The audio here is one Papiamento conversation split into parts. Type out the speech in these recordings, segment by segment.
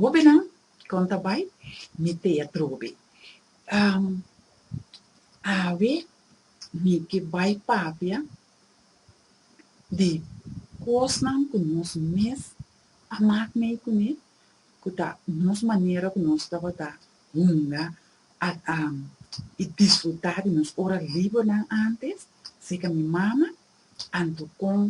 Hobennan, kon ta bai? Mi tea trobe. Awe mi ke bai papia di kosnan ku nos mes a mak mei kuné, ku ta nos manera ku nos tabata hunga i disfrutá di nos ora libernan antes, seka mi mama. Anto kon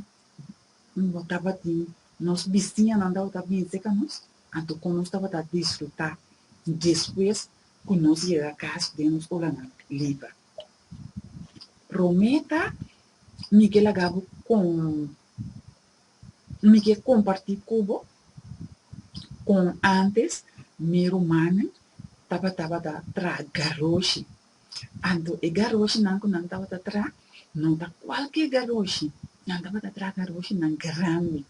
Bo tabatin nos bistiñanan tabata binse ka nos, anto kon nos tabata disfrutá despues ku nos yega kas den nos olanan liba? Promé ta, mi ke laga bo kon, mi ke kompartí ku bo kon ántes mi rumannan tabata traga roshi Anto e garoshnan ku nan tabata traha no ta kualke garoshi, nan tabata traha garoshinan grandi,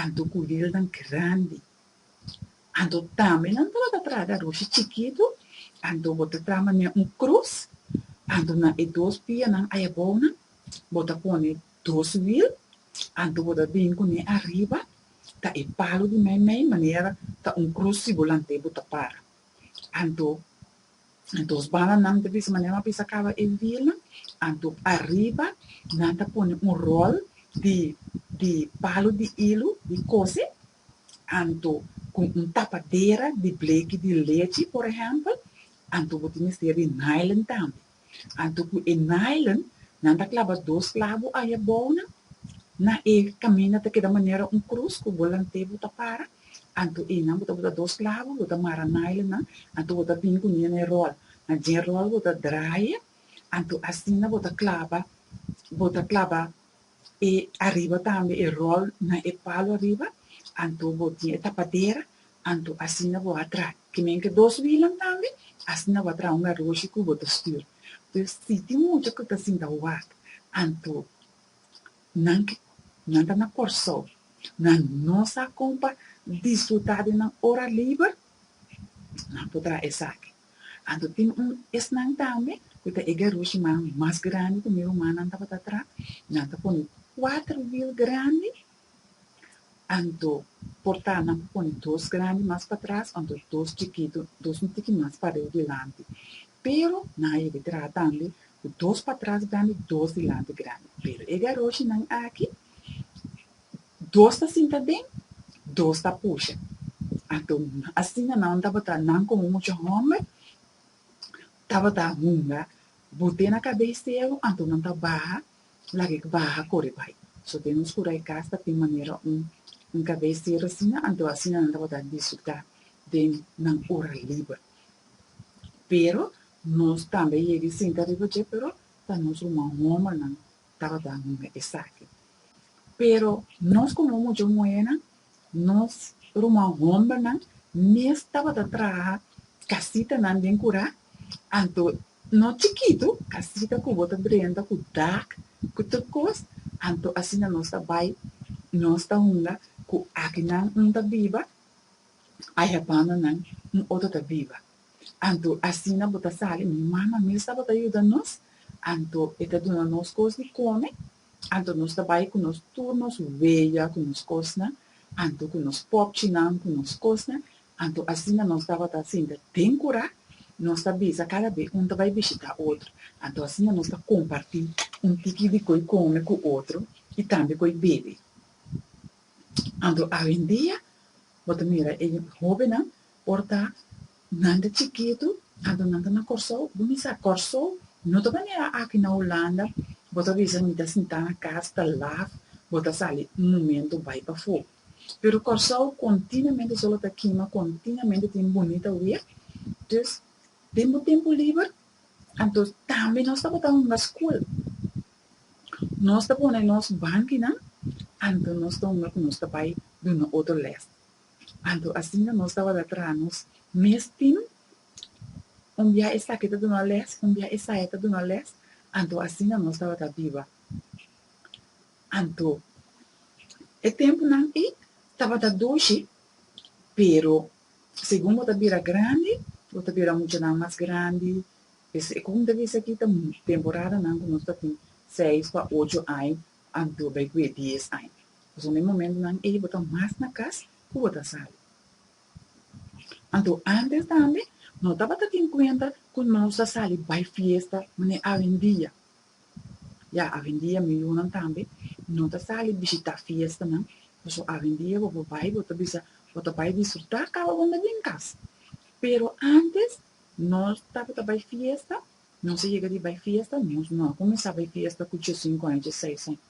anto kurilnan grandi. Anto tambe nan tabata traha garoshi chikitu, anto bo ta traha manera un krus, anto na e dos pianan ai abou nan bo ta pone dos wil, anto bo ta bin kuné ariba ta e palu di meimei manera ta un krus si bo lant'é bo ta para. Anto Anto sbananan ta bisa manera nan bisa caba e wielnan, anto ariba nan ta pone un rol di di palo di ilu di cose, anto cu un tapadera di bleki di lechi por ehempel, anto bo tin mester di nylon tambe, anto cu e nylon nan ta claba dos clabo ahi abounan na e caminda ta keda manera un cruz cu bo lant'e bo ta para, Anto e nan bo ta bota dos clavo, bo ta mara nylon nan, anto bo ta bini cunye na e rol, na dje rol bo ta draye, anto asina bo ta claba, bo ta claba e ariba tambe e rol na e palo ariba, anto bo tin e tapadera, anto asina bo a traha, kimen ke dos wilan tambe, asina bo a traha un aroshi cu bo ta stuur. Pues si tin mucha cu ta sinta wak, anto. Nan ke nan ta na Kòrsou, nan no sa kon pa disfrutá den nan ora liber? Nan por traha esaki. Anto tin un esnan tambe ku ta e garushman mas grandi ku mi rumannan tabata traha. Nan ta pone kuater wiel grandi. Anto por ta nan pa pone dos grandi mas patras anto dos chikitu dos un tiki mas pariu dilanti pero nan a yega tratanle ku dos patras grandi dos dilanti grandi pero e garoshinan aki dos ta sinta den dos ta pusha anto asina nan tabata nan komo mucha homber tabata hunga bute na kabei seru anto nan ta baha Laga e baha kore bai. So den nos kura e kas ta tin manera un un kabes tierra asina anto asina nan tabata disfrutá den nan ora liber. Pero nos tambe a yega a sinta riba dje pero ta nos ruman hombernan tabata hunga esaki. Pero nos komo mucha muhernan nos ruman hombernan mes tabata traha kasitanan den kura anto No chikitu, casita cu bo ta drenta cu dak cu tur cos, anto asina nos ta bay, nos ta hunga cu aki nan un ta biba, aya banda nan un otro ta biba. Anto asina bo ta sali, mi mama mes tabata yuda nos, anto e ta duna nos cos di come, Anto nos ta bai ku nos tur nos weya ku nos kosnan, anto ku nos popchinan ku nos kosnan, anto asina nos tabata sinta den kura, nos ta bisa kada be un ta bai bishita otro, anto asina nos ta komparti un tiki di ko'i kome ku otro i tambe ko'i bebe. Anto awendia bo ta mira e hobennan Por ta, nan ta chikitu, anto nan ta na Kòrsou, bo mi sa Kòrsou no ta manera aki na Hulanda, bo ta bisa mi ta sintá na kas ta laf, bo ta sali un momento bai pafó. Pero Kòrsou kontinuamente solo ta kima, kontinuamente tin bunita wia, dus den bo tempu liber, anto tambe nos ta botá hunga skul, nos ta pone nos bankinan, anto nos ta hunga ku nos ta bai duna otro lès. Anto asina nos tabata traha nos mes team, un bia esaki ta duna les, un bia esaya ta duna les, anto asina nos tabata biba. Anto e tempunan ei tabata doshi, pero segun bo ta bira grandi, bo ta bira muchanan mas grandi, e ku bo ta bisa aki ta temporadanan ku nos ta tin seis pa ocho aña, Anto bay cu e dies aña. Pasobra e momentonan ey bo ta mas na cas cu bo ta sali. Anto antes tambe no tabata tin cuenta cu nos a sali bay fiesta manera awendia. Ya awendia miunnan tambe no ta sali bishita fiestanan pasobra awendia bo por bay bo ta bisa bo ta bay disfruta caba bo na den cas. Pero antes nos tabata bay fiesta Nos a yega di bai fiesta? Nos no a kuminsá bai fiesta ku djessinku aña, djeseis aña,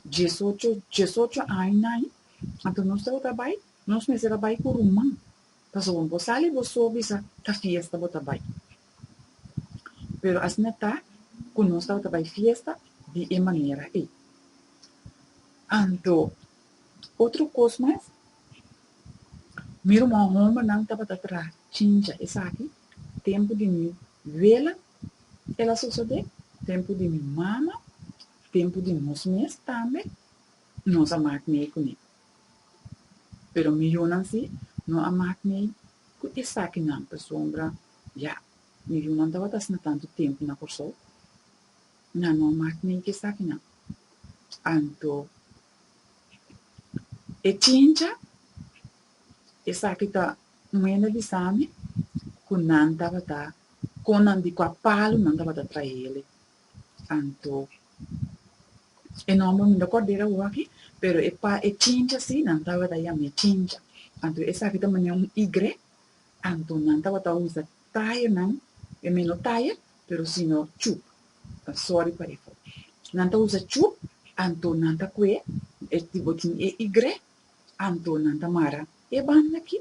djesocho, djesocho añanan. Anto nos tabata bai, nos mester a bai ku ruman, pasobra wen bo sali bo so bisa ta fiesta bo ta bai. Pero asina ta ku nos tabata bai fiesta di e manera ei. Anto otro kos mas, mi ruman hombernan tabata traha chincha esaki. Tempu di mi wela el a sosodé, tempu di mi mama, tempu di nos mes tambe nos a mak mei ku mi. Pero mi yunan si no a mak mei ku esakinan pasobra ya mi yunan tabata asina tantu tempu na Kòrsou, nan no a mak mei ku esakinan. Anto e chincha esaki ta. Nan a yenda bisa mi ku nan tabata kon nan di kua palu nan tabata trae ele. Anto, e nòmber mi no ta kòrd'e awor aki, pero e pa e chincha si, nan tabata yam'e chincha. Anto esaki ta manera un igre, anto nan tabata usa taya nan, e mi no taya, pero sino chup, ta sòri pa efo. Nan ta usa chup, anto nan ta kue e tipo tin e igre, Anto nan ta mara e banda aki,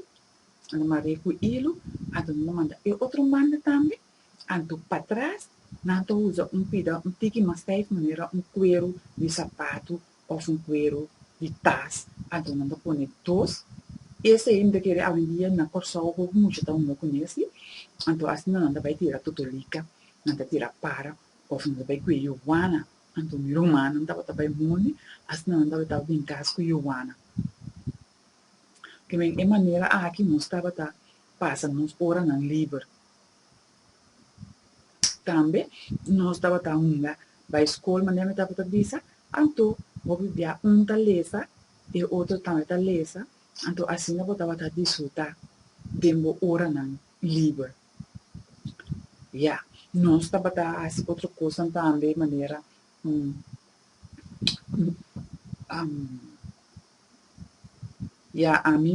nan ta mara e ku ilu, anto nan ta manda e otro banda tambe, anto patras nan ta usa un pida un tiki mas stijf manera un kueru di sapatu òf un kueru di tas, anto nan ta pone dos, esei mi ta kere awendia na Kòrsou hopi mucha ta hunga ku nesei, anto asina nan ta bai tira totolika, nan ta tira para òf nan ta bai kuye yuana. Anto mi rumannan tabata bai mundi, asina nan tabata taba bin kas ku Yowana. P'esei, e manera aki nos tabata pasa nos oranan liber. Tambe nos tabata hunga bai skol manera mi tabata bisa, anto hopi bia un ta lesa e otro tambe ta lesa, anto asina bo tabata disfrutá den bo oranan liber. Ya, nos tabata a hasi otro kosnan tambe manera ya ami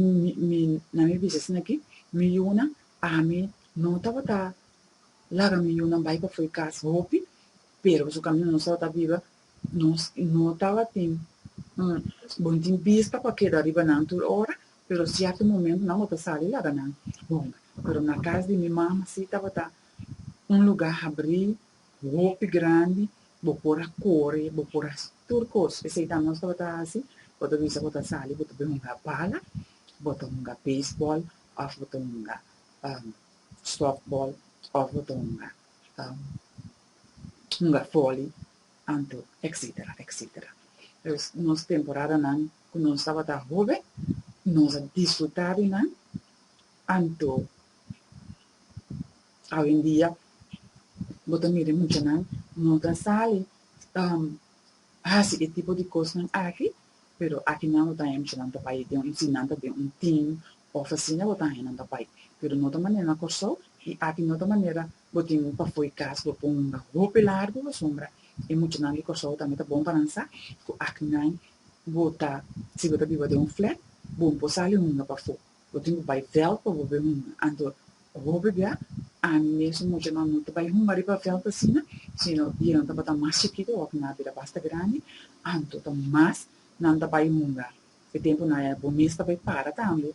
mi na mi bistasin aki mi yunan ami no tabata laga mi yunan bai pafui kas hopi, pero pasobra nos tabata biba Nos no tabatin un bon tin bista pa keda riba nan tur ora, pero sierto momento nan bo ta sali laga nan honga. Pero na cas di mi mama si tabata un luga habri, hopi grandi, bo por a core, bo por a haci tur cos. Eseyta nos tabata haci, bo ta bisa bo ta sali bo ta bai hunga bala, bo ta hunga baseball of bo ta hunga softball of bo ta hunga. hunga foli, anto, etcetera, etcetera. Pues nos temporadanan cu nos tabata hoben, nos a disfruta di nan, anto awendia bo ta mira e muchanan no ta sali hasi e tipo di cosnan aki, pero aki nan bo ta haya muchanan ta bai, si nan ta den un team of asina bo ta haya nan ta bai, pero no ta manera na Corsou y aki no ta manera Bo tin un pafoy kas bo pon unga hopi largu asombra e muchanan di Kòrsou tambe ta bon pa nan sa ku aki nan bo ta si bo ta biba den un flat bon por sali hunga pafó bo tin ku bai vèlt pa bo bai hunga anto hopi bia ami mesun muchanan no ta bai hunga riba vèlt asina sino bienan tabata mas chikitu òf nan a bira basta grandi anto ta mas nan ta bai hunga e tempu nan ya bo mes ta bai para tambe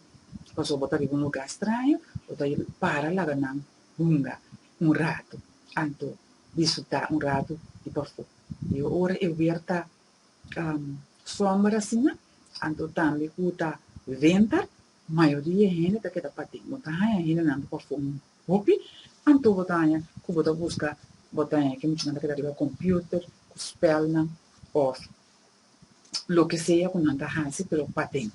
pasobra bo ta riba un lugá straño bo ta para laga nan hunga un ratu, anto disfrutá un ratu di pafó. I ora e wer ta sòmber asina, anto tambe ku ta wenter, mayoria e hende ta keda pa den. Bo ta haña hendenan ku pafó un hopi, anto bo ta haña ku bo ta buska, bo ta haña ku muchanan ta keda riba kòmpiuter ku spèlnan òf loke sea ku nan ta hasi, pero paden.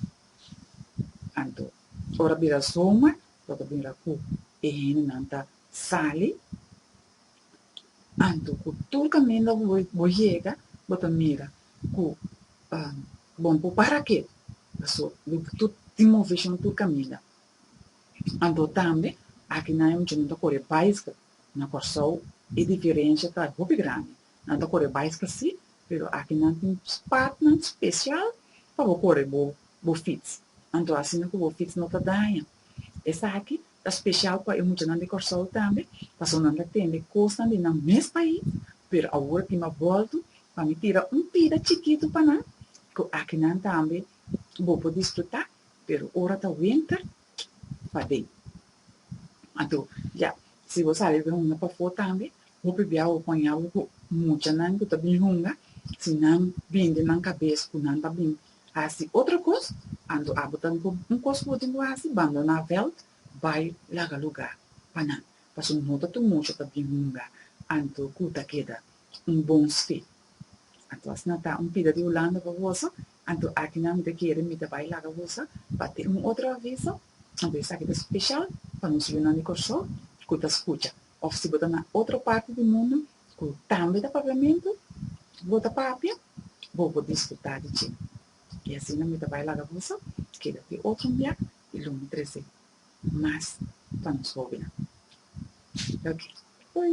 Anto ora bira zomer. lo ta bira ku e hendenan ta sali, anto ku tur kaminda ku bo bo yega bo ta mira ku bon por para ke, paso lo di tur tin moveshon tur kaminda. Anto tambe aki nan e muchanan ta kore bicycle, na Kòrsou e diferensha ta hopi grandi, Nan ta kore bicycle si, pero aki nan tin spatnan special pa bo kore bo bo fiets. Anto asina cu bo fiets no ta daña. Esaki ta special pa e muchanan di Corsou tambe, paso nan ta tende cosnan di nan mes pais, pero awor tin mas bolto. Pa mi tira un pida chikito pa nan cu aki nan tambe bo por disfruta, pero ora ta wenter, paden. Anto, ya, si bo sali bo hunga pafó tambe, hopi bia bo por haña bo ku muchanan ku ta bin hunga, si nan bin den nan kabes ku nan ta bin hasi otro kos, anto abo ta un kos ku bo tin ku hasi, bandoná vèlt, bai laga lugá pa nan, pasobra no ta tur mucha ta bin hunga, anto ku ta keda un bon sfé. Anto asina ta un pida di Hulanda pa boso, Anto akinan mi ta kere mi ta bai laga gosa pa tin un otro aviso, anto esaki ta speshal pa nos yunan di Kòrsou ku ta skucha. Òf si bo ta na otro parti di mundu ku tambe ta papiamentu, bo ta papia, bo por disfrutá di dje. I asina mi ta bai laga boso keda te otro un bia i lo mi trese mas pa nos hóbennan. Oke. Oi.